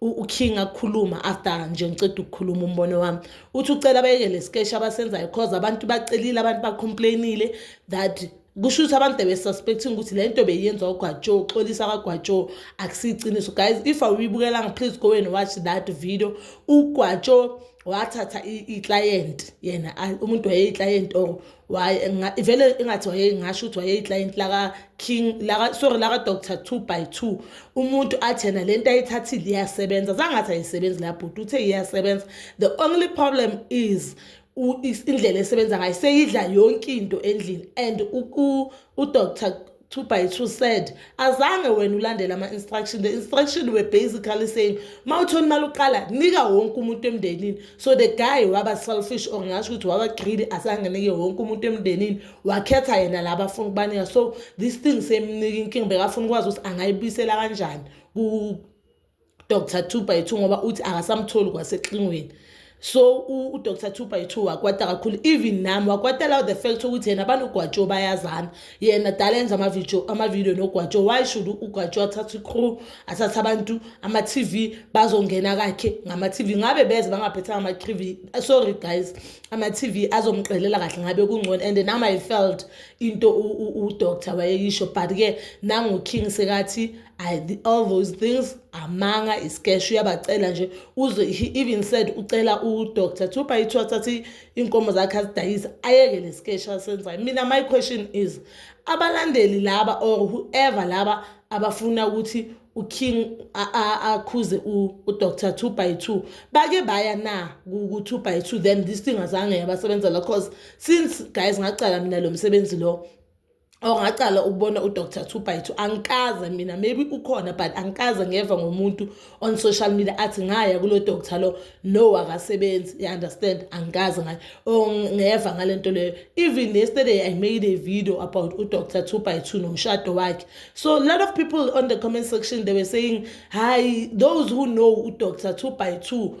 uking akukhuluma after nje ngiceda ukukhuluma umbono wami uthi ucela abayeke le skeshi abasenzayo cause abantu bacelile abantu bacomplainile that kusho ukuthi abantu besuspecting ukuthi le nto beyenza ugwajo uxolisa kagwajo akusiyiqiniso guys if awuyibukelanga please go and watch that video ugwajo wathatha iclient yena umuntu wayeyiclient or vele ingathi wayengasho ukuthi wayeyiclient laka-king laka, sorry laka-doctor two by two umuntu athi yena le nto ayithathile iyasebenza zangathi ayisebenzi la bhuti uthe iyasebenza the only problem is indlela esebenza ngayo seyidla yonke into endlini and udr two by two said azange wena ulandele ama-instruction the instruction were basically saying ma uthoni imali uqala nika wonke umuntu emndenini so the guy waba selfish or ngasho ukuthi waba greedy azange nike wonke umuntu emndenini wakhetha yena la bafuna ukubanika so this thing semnika inkinga bekafuna ukwazi ukuthi angayibuyisela kanjani Dr. 2 by 2 ngoba uthi akasamtholi kwaseklingweni so udr 2 by 2 wakwata kakhulu even nami wakwata law the fact ukuthi yena banogwatsho bayazana yena dala enza amavidio amavidio nogwatsho why should ugwatsho athathe icrew athathe abantu ama-tv bazongena kakhe ngama-tv ngabe beze bangaphethanga ama-tv sorry guys ama-tv azomqelela kahle ngabe kungcono and nam i felt into udoctor wayeyisho but-ke nanguking sekathi I, the, all those things amanga iskesh uyabacela nje uze he even said ucela udoctor kuthiwa bayithiwa thatha iy'nkomo zakhe azidayise ayeke le skesh asenzayo mina my question is abalandeli laba or whoever laba abafuna ukuthi uking akhuze udr two by two bake baya na ku-two by two then this thing azange yabasebenzela cause since guys ngacala mina lo msebenzi lo or ngaqala ukubona udr two by two angikaze mina maybe ukhona but angikaze ngeva ngomuntu on social media athi ngaya kulo doctor lo no akasebenzi you understand angikaze ngayo or ngeva ngale nto leyo even yesterday i made a video about udr two by two nomshado wakhe so a lot of people on the comment section they were saying hi those who know udr two by two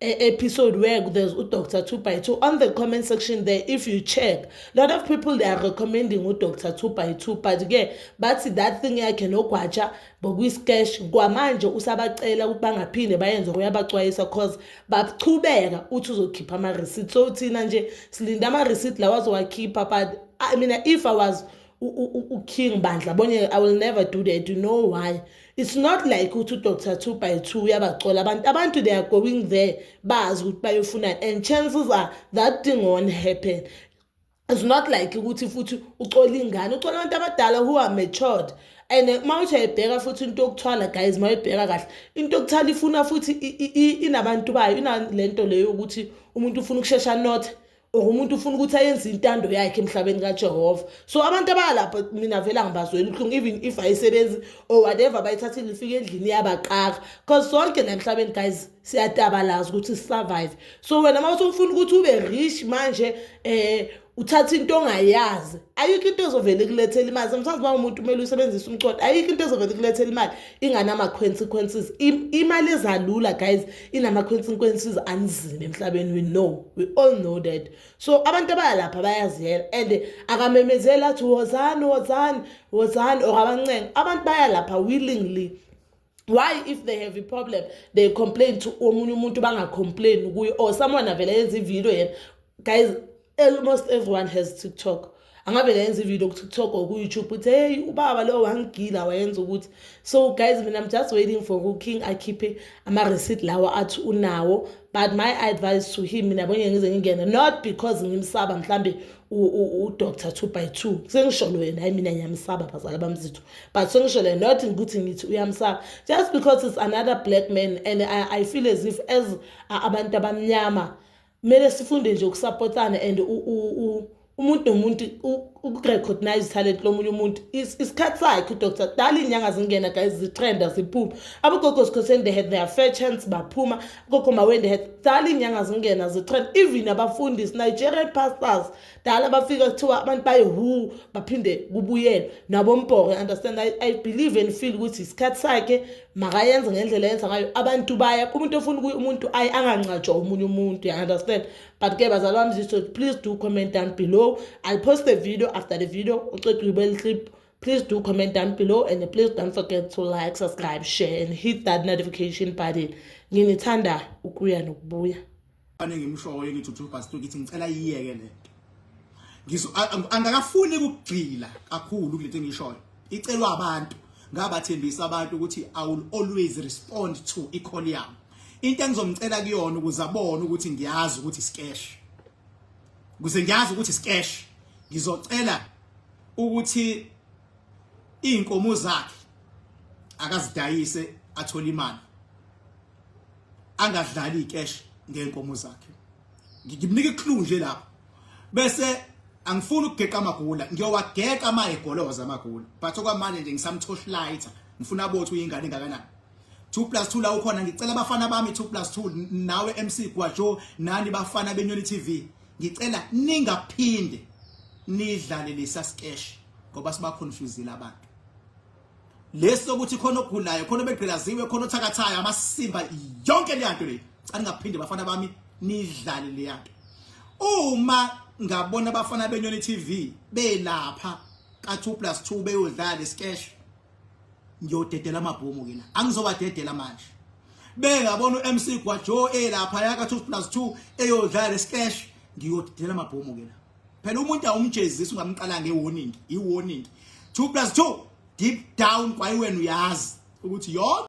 episode where there's udr two by two on the comment section there if you check a lot of people they are recommending udr two by two but ke bathi that thing yakhe nogwatsha bokuyiscash kwamanje usabacela ukuthi bangaphinde bayenze uyabacwayisa cause bachubeka uthi uzokhipha ama-receipt so thina nje silinde ama-receipt lawa azowakhipha but I mean, if i was uking bandla bonye i will never do that you know why it's not like ukuthi udr two by two uyabacola abantu abantu they are going there bazi ukuthi bayofunani and chances are that thing won't happen it's not like ukuthi futhi ucola ingane ucola abantu abadala who are matured and uma uthi ayibheka futhi into yokuthwala guys uma uyibheka kahle into yokuthwala ifuna futhi inabantu bayo inale nto leyo ukuthi umuntu ufuna ukushesha not or umuntu ufuna ukuthi ayenze intando yakhe emhlabeni kajehova so abantu abalapha mina vele angibazweli ubuhlungu even if ayisebenzi or whatever bayithathile ifike endlini yabaqaka because sonke la emhlabeni guys siyatabalaza ukuthi sisurvive so wena uma usufuna ukuthi ube rich manje eh uthatha into ongayazi ayikho into ezovele kulethela imali sometimes uma umuntu kumele usebenzise umcodo ayikho into ezovele kulethela imali inganama-consequences imali ezalula guys inama-consequences anzima emhlabeni we know we all know that so abantu abayalapha bayaziyela and akamemezeli athi wozani wozani wozani or abancenga abantu bayalapha willingly why if they have a problem they complain to omunye umuntu bangacomplain kuye or someone avele yenza ividiyo yena guys Almost everyone has TikTok. Angabe ngayenza ivideo ku TikTok or ku YouTube uthi hey ubaba lo wangigila wayenza ukuthi so guys mina I'm just waiting for ku King akhiphe ama receipt lawa athi unawo but my advice to him mina bonye ngize ngingene not because ngimsaba mhlambe u Dr 2 by 2 sengisholo yena hayi mina ngiyamsaba bazala bamzithu but sengisholo not ukuthi ngithi uyamsaba just because it's another black man and I, I feel as if as abantu abamnyama kumele sifunde nje ukusapotana and umuntu nomuntu ukurecognize talent lomunye umuntu isikhathi sakhe udoctor dala iy'nyanga zingena guys zitrenda ziphuma abogogo sikhoseni they had their fair chance baphuma gogo maweni they had dala iy'nyanga zingena zitrenda even abafundisi nigerian pastors kudala bafika kuthiwa abantu bayihu baphinde kubuyelwe nabombhoke understand I, i believe and feel ukuthi isikhathi sakhe makayenze ngendlela yenza ngayo abantu baya umuntu ofuna ukuya umuntu ayi angangcatshwa omunye umuntu ya understand but ke bazali bami ziso please do comment down below i'll post the video after the video uceda uyibele clip please do comment down below and please don't forget to like subscribe share and hit that notification button nginithanda ukuya nokubuya Ane ngimshoyo ngithi uthi ubhasto ngithi ngicela iyeke le. Ngizo angakafuni ukugxila kakhulu kulento engishoyo. Icelwa abantu ngabathembisa abantu ukuthi I will always respond to i-call yami. Into engizomcela kuyona ukuze abone ukuthi ngiyazi ukuthi sikesh. Kuze ngiyazi ukuthi sikesh. Ngizocela ukuthi izinkomo zakhe akazidayise athole imali angadlali icash ngenkomo zakhe ngimnika iclue nje lapho bese angifuni ukugeqa amagula ngiyowageqa ama egoloza amagula but okwamanje nje ngisamthosh lighter ngifuna bothi uyingane engakanani 2 plus 2 la ukhona ngicela abafana bami 2 plus 2 nawe MC Gwajo nani bafana benyoni TV ngicela ningaphinde nidlale lesa sketch ngoba siba confusile abantu lesi sokuthi khona ogulayo khona obegqilaziwe khona othakathayo amasimba yonke le nto le aningaphinde bafana bami nidlale le nto uma ngabona abafana benyoni TV belapha ka 2 plus 2 beyodlala iskesh ngiyodedela amabhomu kina angizobadedela manje bengabona uMC Gwajo elapha yaka 2 plus 2 eyodlala iskesh ngiyodedela amabhomu kina phela umuntu awumjezisi ungamqala nge warning i warning 2 plus 2 deep down kwayiwena uyazi ukuthi yonke